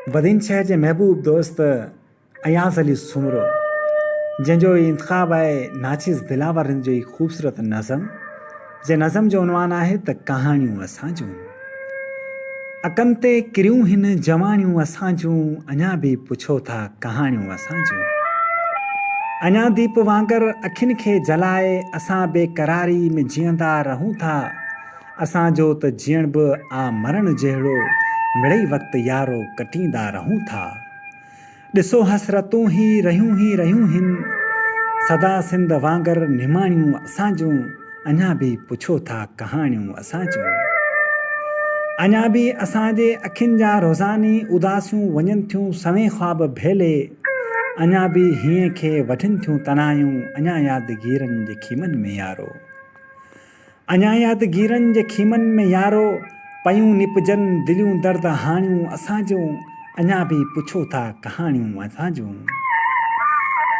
بدين شهر جي محبوب دوست اياز علي سومرو جنهن جو هي انتخاب آهي ناچيز دلاور هند جو هي خوبصورت نظم جنهن نظم جو عنوان آهي ته ڪهاڻيون اسان جون اڪن تي ڪريون هن جواڻيون اسان جون اڃا به پڇو ٿا ڪهاڻيون اسان جون اڃا ديپ وانگر اکين کي جلائي اسان بيقراري ۾ جيئندا رهون ٿا اسان جو ته جيئڻ به آ مرڻ جهڙو مڙئي وقت يارو ڪٽيندا رهون ٿا. ڏسو حسرتون هي رهيون هي رهيون هن. سدا سنڌ وانگر نماڻيون اسان جون اڃا به پڇو ٿا ڪهاڻيون اسان جون. اڃا به اسان جي اکين جا روزاني اداسيون وڃن ٿيون سوين خواب ڀيلي اڃا به هينئن کي وڍن ٿيون تنايون اڃا يادگيرن جي خيمن ۾ يارو. اڃا يادگيرن جي خيمن ۾ يارو پيون نپجن دليون درد هاڻيون اسان جون اڃا به پڇو ٿا ڪهاڻيون اسان جون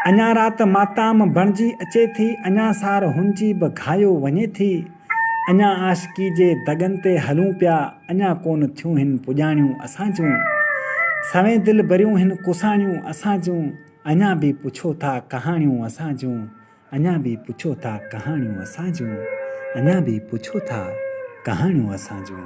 اڃا رات ماتام بڻجي اچي ٿي اڃا سار هنجي به گهايو وڃي ٿي اڃا عاشقي جي دڳن تي هلون پيا اڃا ڪون ٿيون هن پڄاڻيون اسان جون سوين دلبريون هن ڪساڻيون اسان جون اڃا به پڇو ٿا ڪهاڻيون اسان جون. اڃا به پڇو ٿا ڪهاڻيون اسان جون اڃا به پڇو ٿا ڪهاڻيون اسان جون.